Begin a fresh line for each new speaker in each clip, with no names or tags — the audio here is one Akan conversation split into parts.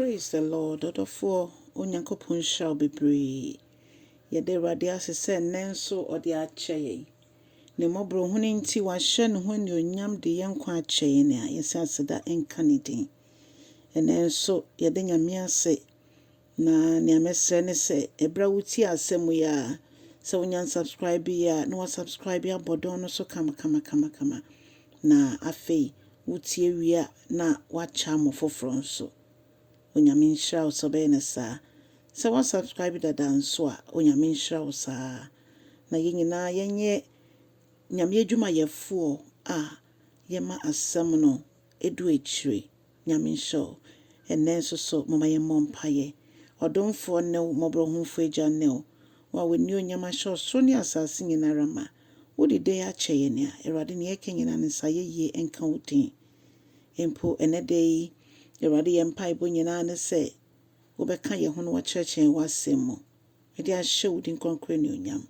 Praise the Lord ɔdɔfoɔ Onyankopɔn nhyira wo bebree yɛda Awurade ase sɛ nnɛ nso ɔde akyɛ yɛn ne mmɔborɔhunu nti wahyɛ ne ho anuonyam de yɛn nkwa akyɛ yɛn a yɛsɛ aseda nka ne din ɛnnɛ nso yɛda Nyame ase na nea mɛsrɛ ne sɛ ɛberɛ a wotie asɛm yi a sɛ wonya nsubscribe yɛ a na wasubscribe abɔ dɔn no so kama kama kama kama Na afei wotie wie a na woakyɛ amo foforɔ nso. Onyame nhyira wo sɛ wobɛyɛ no saa. Sɛ woa subscribe dada nso a Onyame nhyira wo saa. Na yɛn nyinaa yɛnyɛ Nyame adwumayɛfoɔ a yɛma asɛm no ɛdu akyire. Nyame nhyira wo. Ɛnnɛ nso so momma yɛmmɔ mpaeɛ. Ɔdomfoɔ ne wo, Mmɔborɔhunfoɔ Agya ne wo, wo a w'anionyam ahyɛ ɔsoro ne asaase nyina ara ma. Wode dɛɛ akyɛ yɛn a, Awurade, nea yɛka nyina no nsa ayɛyie nka wo din. Mpo ɛnnɛ da yi, Awurade, yɛn mpaebɔ nyina ara ne sɛ wobɛka yɛn ho na woakyerɛkyerɛ yɛn w'asɛm mu. Mede ahyɛ wo din kronkron anuonyam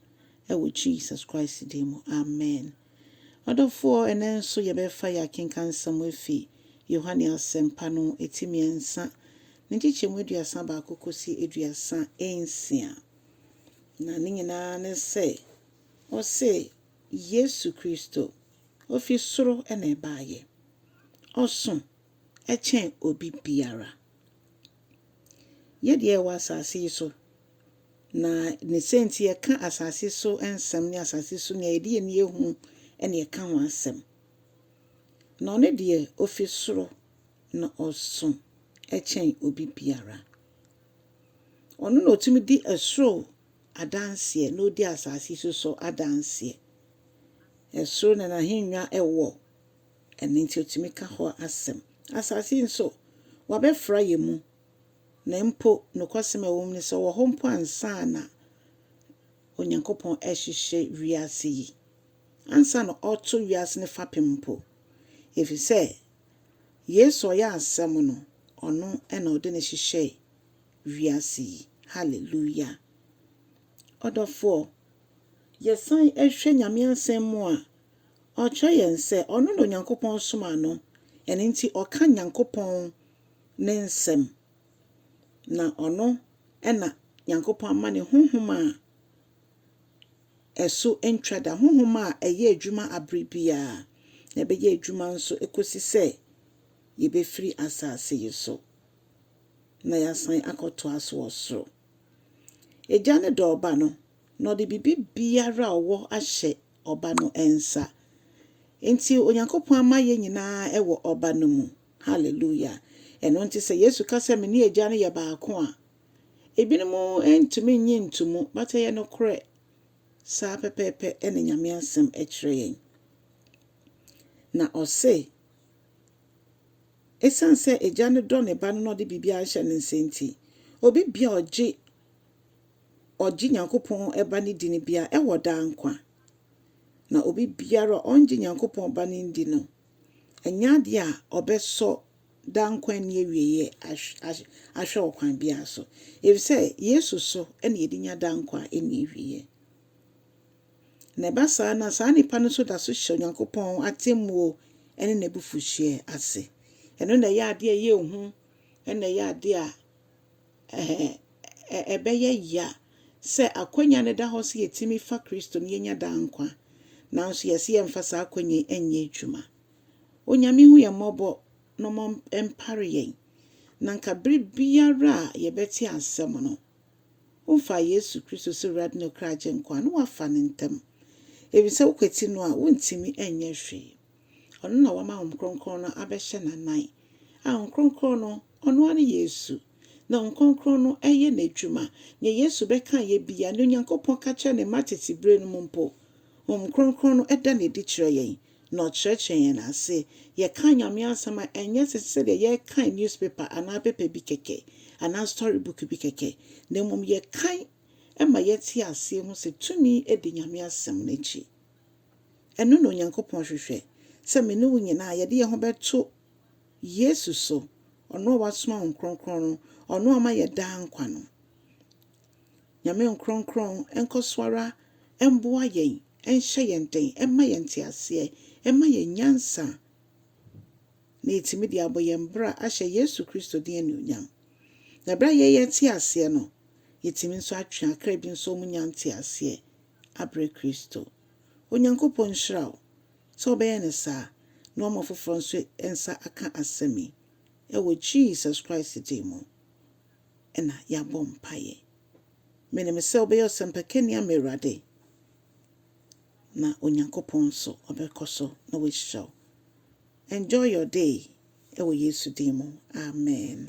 wɔ Jesus Christ din mu, amen. Ɔdɔfoɔ, ɛnnɛ nso yɛbɛfa yɛn akenkansɛm afi Yohane Asɛmpa no ti mmiɛnsa, ne nkyekyɛmu aduasa baako kɔsi aduasa nsia. Na ne nyinaa ne sɛ, ɔse Yesu Kristo, ɔfi soro na ɛbaeɛ. Ɔso kyɛn obi biara. Yɛ deɛ yɛwɔ asase yi so, na ne sɛ nti yɛka asase so nsɛm ne asase so nea yɛde yɛn ani ahu na yɛka ho asɛm. Na ɔno deɛ ofi soro na ɔso kyɛn obi biara. Ɔno na ɔtumi di ɛsoro adanseɛ na ɔdi asase so so adanseɛ. Ɛsoro na n'ahennwa wɔ. Ɛno nti otumi ka hɔ asɛm. Asase yi nso, wɔabɛfra yɛn mu, na mpo nokwasɛm a ɛwɔ mu ne sɛ ɔwɔ hɔ mpo ansa na Onyankopɔn rehyehyɛ wiase yi, ansa na ɔreto wiase no fapem mpo, efisɛ Yesu a ɔyɛ Asɛm no, ɔno na ɔde no hyehyɛɛ wiase yi. Hallelujah! Ɔdɔfoɔ, yɛsan hwɛ Nyame Asɛm mu a, Ɔkyerɛ yɛn sɛ ɔno na Onyankopɔn somaa no, ɛno nti ɔka Nyankopɔn ne nsɛm, na ɔno na Nyankopɔn ama ne honhom a ɛso ntwa da, honhom a ɛyɛ adwuma bere biara, na ɛbɛyɛ adwuma nso kosi sɛ yebefiri asase yi so na yɛasan akɔtoa so wɔ soro. Agya no dɔ Ɔba no, na ɔde biribiara a ɔwɔ ahyɛ Ɔba no nsa. Enti Onyankopɔn ama yɛn nyinaa wɔ Ɔba no mu. Hallelujah! Ɛno nti sɛ Yesu ka sɛ, Mene Agya no yɛ baako a, ebinom ntumi nnye nto mu, but ɛyɛ nokorɛ. Saa pɛpɛɛpɛ na Nyame Asɛm kyerɛ yɛn. Na ɔse, Esiane sɛ Agya no dɔ ne Ba no na ɔde biribiara ahyɛ ne nsa nti, obi bia ɔgye ɔgye Nyankopɔn Ba no di no biara wɔ daa nkwa. Na obi biara a ɔngye Nyankopɔn Ba no ndi no, ɛnyɛ adeɛ a ɔbɛsɔ daa nkwa nni awieɛ ahwɛ wɔ kwan biara so, ɛfiri sɛ Yesu so na yɛde nya daa nkwa a ɛnni awieɛ. Na ɛba saa no a, saa nipa no nso da so hyɛ Onyankopɔn atemmuo ne n'abufuhyeɛ ase. Ɛno na ɛyɛ adeɛ a ɛyɛ hu, ɛna ɛyɛ adeɛ a Ɛɛ, ɛbɛyɛ yea sɛ akwannya no da hɔ sɛ yetumi fa Kristo na yenya daa nkwa, nanso yɛse yɛmfa saa akwannya yi nyɛ adwuma. Onyame hu yɛn mmɔbɔ na ɔmma ɛmpare yɛn, na nka bere biara a yɛbɛte asɛm no, womfaa Yesu Kristo sɛ Awurade ne ɔkra Agyenkwa a, na woafa no ntɛm, efisɛ wokwati no a, wuntumi nyɛ hwee. Ɔno na wɔama Hom Krɔnkrɔn no abɛhyɛ n'anan, a Hom Krɔnkrɔn no, Ɔno ara nye Yesu, na Hom Krɔnkrɔn no yɛ N'edwuma. Nyɛ Yesu bɛkaeɛ biara, nyɛ Onyankopɔn ka kyerɛɛ Ne mma tsetse berɛ no mu mpo, Hom Krɔnkrɔn no da no edzi kyerɛ hɛn, na Ɔkyerɛkyerɛ hɛn ase. Yɛkaa Nyame asɛm a, nnyɛ tse sɛdeɛ yɛrekan newspaper anaa paper bi kɛkɛ, anaa story book bi kɛkɛ, na mmom yɛkan ma yɛtse aseɛ hu sɛ tumi di Nyame asɛm no akyi. Ɛno na Onyankopɔn hwehwɛ, sɛ me ne wo nyinaa yɛde yɛn ho bɛto Yesu so, ɔno a wasoma Honhom Kronkron no, ɔno a ɔma yɛn daa nkwa no. Nyame Nkronkron nkɔ so ara mboa yɛn, nhyɛ yɛn den, mma yɛn nteaseɛ, mma yɛn nyansa, na yɛatumi de abɔ yɛn bra ahyɛ Yesu Kristo din anuonyam. Na berɛ a yɛyɛ te aseɛ no, yɛtumi nso atwe akra bi nso wɔn nya nteaseɛ. abrɛ Kristo. Onyankopɔn nhyira wo sɛ wobɛyɛ no saa na woama foforɔ nso nsa aka asɛm yi. Wɔ Jesus Christ din mu na yɛabɔ mpaeɛ. Menim sɛ wobɛyɛ ɔsɛmpakani ama Awurade na Onyankopɔn nso ɔbɛkɔ so na wahyira wo. Enjoy your day wɔ Yesu din mu, amen.